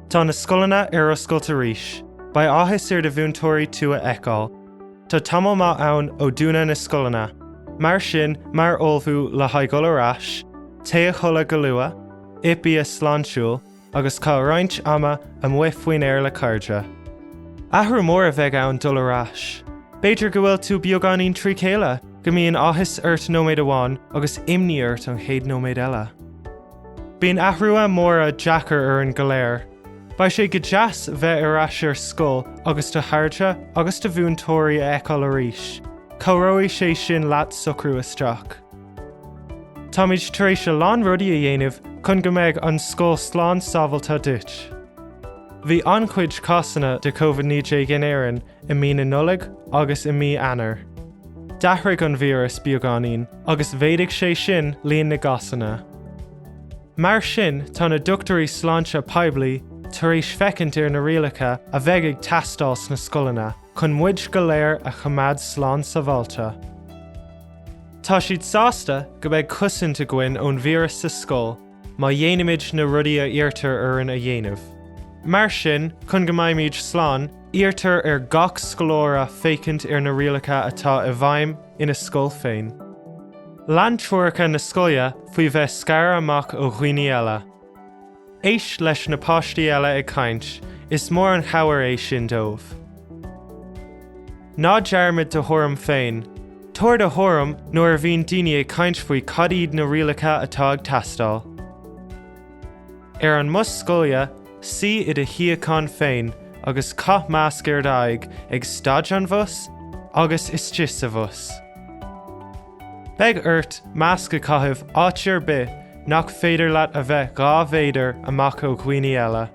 Tá na scoileanna ar oscailt arís. Beidh áthas ar do mhúinteoirí tú a fheiceáil. Tá tamall maith ann ó dúnadh na scoileanna. Mar sin, mar ullmhú le haghaidh dhul ar ais, téigh a chodladh go luath, ith bia sláintiúil, agus caith roinnt ama amuigh faoin aer le cairde. Athrú mór a bheidh ann dul ar ais. B'fhéidir go bhfuil tú beagáinín trí chéile! go mbíonn áthas ort nóiméad amháin agus imní ort an chéad nóiméad eile. Bíonn athruithe móra deacair orainn go léir. Beidh sé go deas bheith ar ais ar scoil agus do chairde agus do mhúinteoirí a fheiceáil arís, cabhróidh sé sin leat socrú isteach. Táimid tar éis a lán rudaí a dhéanamh chun go mbeidh an scoil slán sábháilte duit. Bhí an-chuid cásanna de Covid 19 in Éirinn i mí na Nollag agus i mí Eanáir. D'athraigh an víreas beagáinín agus mhéadaigh sé sin líon na gcásanna. Mar sin tá na dochtúirí sláinte poiblí tar éis féachaint ar na rialacha a bheidh ag teastáil sna scoileanna chun muid go léir a choimeád slán sábháilte. Tá siad sásta go mbeidh cosaint againn ón víreas sa scoil, Má dhéanaimid na rudaí a iarrtar orainn a dhéanamh. Mar sin, chun go mbeimid slán, iarrtar ar gach scoláire féachaint ar na rialacha atá i bhfeidhm ina scoil féin. Lean treoracha na scoile faoi bheith scartha amach ó dhaoine eile. Éist leis na páistí eile ag caint, is mór an chabhair é sin dóibh. Ná dearmad do thuairim féin. Tabhair do thuairim nuair a bhíonn daoine ag caint faoi cad iad na rialacha atá ag teastáil. Ar an mbus scoile, suigh i do shuíochán féin agus caith masc ar d'aghaidh ag stad an bhus agus istigh sa bhus. Beidh ort masc a chaitheamh áit ar bith nach féidir leat a bheith dhá mhéadar amach ó dhaoine eile.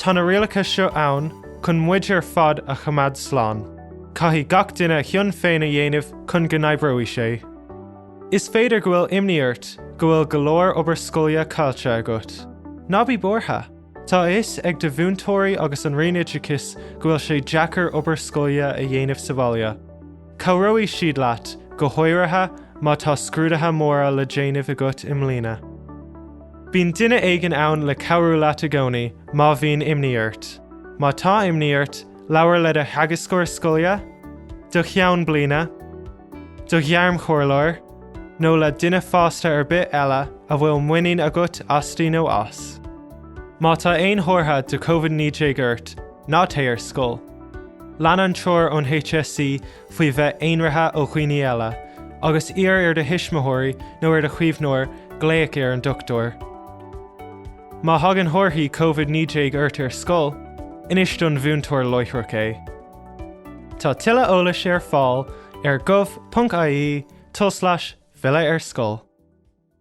Tá na rialacha seo ann chun muid ar fad a choimeád slán. Caithfidh gach duine a chion féin a dhéanamh chun go n-oibreoidh sé. Is féidir go bhfuil imní ort go bhfuil go leor obair scoile caillte agat. Ná bí buartha. Tá a fhios ag do mhúinteoirí agus an Roinn Oideachais go bhfuil sé deacair obair scoile a dhéanamh sa bhaile. Cabhróidh siad leat, go háirithe má tá scrúduithe móra le déanamh agat i mbliana. Bíonn duine éigin ann le cabhrú leat i gcónaí má bhíonn imní ort. Má tá imní ort, labhair le do theagascóir scoile, do cheann bliana, do ghairmchomhairleoir nó le duine fásta ar bith eile a bhfuil muinín agat asti nó as. Má tá aon chomhartha de Covid-19 ort, Ná téigh ar scoil. Lean an treoir ón HSE faoi bheith aonraithe ó dhaoine eile, agus iarr ar do thuismitheoirí nó ar do chaomhnóir glaoch ar an dochtúir. Má thagann comharthaí Covid 19 ort ar scoil, inis don mhúinteoir láithreach é. Tá tuilleadh eolais ar fáil ar gov.ie tulslais filleadh-ar-scoil.